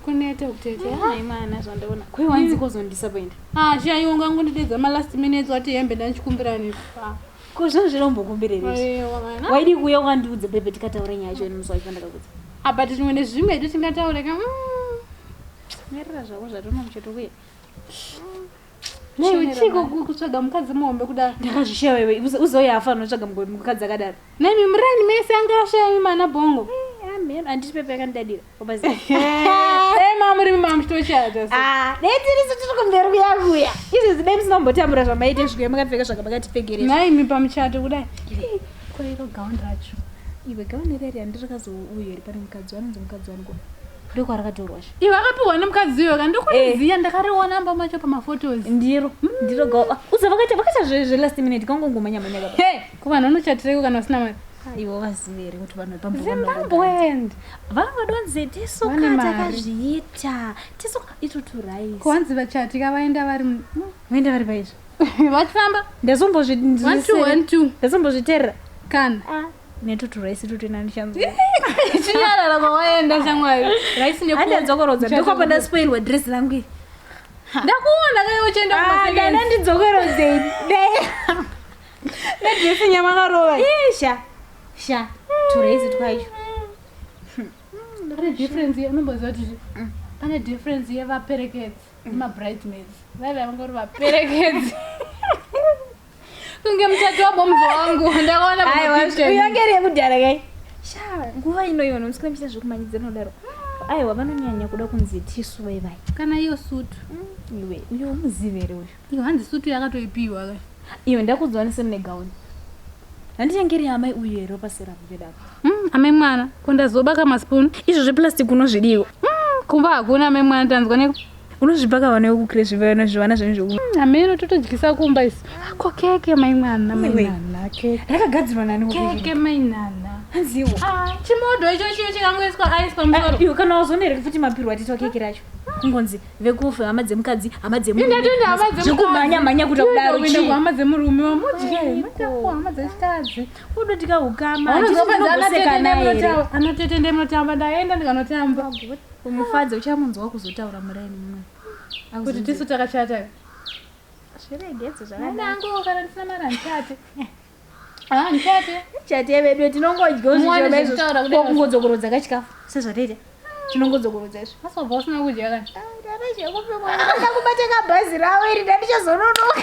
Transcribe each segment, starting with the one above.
kuneta kutete hayi mwana zvandaona kwewanzi kozondisa paenda ah chaiwo ngangondidedza malast minutes wati hembe ndandichikumbira nefa ko zvinhu zvirombokumbirerei waidi kuuya ukandiudza bebe tikataura nyaya yacho ini musi wacho pandakakudza apa tichimwe nezvimwe hedu tingataure ka mirira zvako zvatinomuchetokuya Nei chiko kutsvaga mukadzi muhombe kudaro? Ndakazvishaya wewe, uzouya afa anotsvaga mukadzi akadaro. Nemi murani mese anga ashaya imi mana bongo. Eh, amen, anditi pepe yakandidadira. Obazi. Eh, mama muri mama mchitochata. Ah, nei tiri su tiri kumberi kuya kuya. Izvi zidai musinombotambura zvamaite zvikuya makapfeka zvakabakati pfegerera. Nai imi pamuchato kudai. Koiro gown racho. Iwe gown iri iri andiri kazouyo iri pane mukadzi wanonzi mukadzi wangu. ndokwaratorwa sha iwe akapiwa nemukadzi iyoyo kandikuriziya eh. ndakariona amba macho pamaphotos ndiro hmm. ndiro gawa ah, uza vakaita vakaita zvelast minute kangongomanya manya baba he kuvanhu vanochatireiko kana usina mari ah, ivo vazive here kuti vanhu vepambozimbabwend vava vadonze tisoka takazviita tisoka itoturais kuhanzi vachatika vaenda vari hmm. vaenda vari paizvo vachifamba ndazombozviterera kana ah. netutu rice tutu ina ndichanzwa chinyarara kwawaenda shamwari rice nepo andadzokorodza ndiko pandaspoilwa dress rangu iri ndakuona kai uchienda Ah, kumasekeni. dana ndidzokorozei nedresi nyamakarova Ih, sha sha turaisi twacho pane difference ye- unomboziva kuti zvi- pane difference yevaperekedzi nemabridesmaids vaive vangori vaperekedzi kunge mutatu wabomzo wangu ndakaona uyongeri yekudhara kai sha nguva ino ivo nomusikana muchiita zvekumanyidza nodaro aiwa vanonyanya kuda kunzi tisu vai vai kana iyo sutu mm, iwe uyo umuzivere uyo iyo hanzi sutu yakatoipiwa ka iyo ndakudzwanise mune gauni handichengeri amai uyu here wapasera kuvedako mm, amai mwana kondazobaka maspoon izvo zveplastic unozvidiwa mm, kumba hakuna amai mwana tanzwa ne unozvibvaka vana vekukire zvivana zvivana zvenyu zveku mm, ameno totodyisa kumba isi ko keke mainana mainana keke rakagadzirwa nani keke mainana hanziwo ah, chimodo icho chiyo chikangoiswa aiswa musoro eh, kana wazonereke futi mapirwa titwa keke racho kungonzi vekufa hama dzemukadzi hama dzemurumekumhanya mhanya kuta kudarohama dzemurume wamudyehama dzechikadzi udotika ukama anotete ndemotamba ndaenda ndikanotamba kumufadza uchamunzwa kuzotaura muraini muno kuti tisu takachata zviregedze zvakanangu kana ndisina mari handichate handichate chate vedu tinongodya uzvichomaizokungodzokorodza kachikafu sezvataita tinongodzokorodza izvo asobva usina kudya kana ndazvekupikoda kubata kabhazi ravo iri ndandichazononoka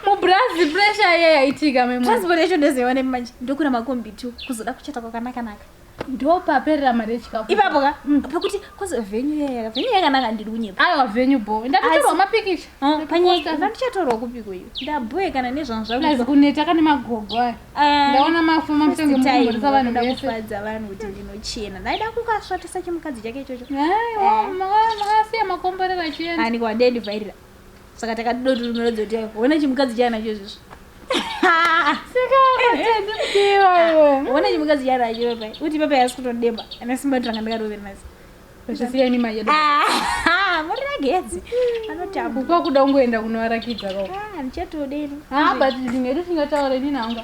mubrazzi pressure iye yaitika memo transport yacho ndozoiwa nemanje ndokura makombi two kuzoda kuchata kwakanakanaka ndopaperera mari yechikafu ipapo ka mm. pakuti cause venyu yaka venyu yakanaka ndiri kunyepa aiwa venyu bo ndatotorwa mapikicha oh, panyika ndandichatorwa kupi kuyo ndaboe kana nezvangu zvakuzi kuneta kane magogo aya ah, ndaona mafu mamusenge mukumborisa vanhu vese kufadza vanhu kuti ndinochena ndaida kukasvatisa chimukadzi chake ichocho aiwa eh. makasiya makomborera chienda ani kwandendivhairira saka takadida kuti unoratidza kuti yaiwa hona chimukadzi chaanacho izvizvo hona chimukadzi chaanacho papai uti papai asi kutodemba ana simba tanga ndikatoveri nasi zvisiya nima yedu muragedzi anotamba kupa kuda kungoenda kunovarakidza koko ndichatodeni but ndinge tisingataure nini hanga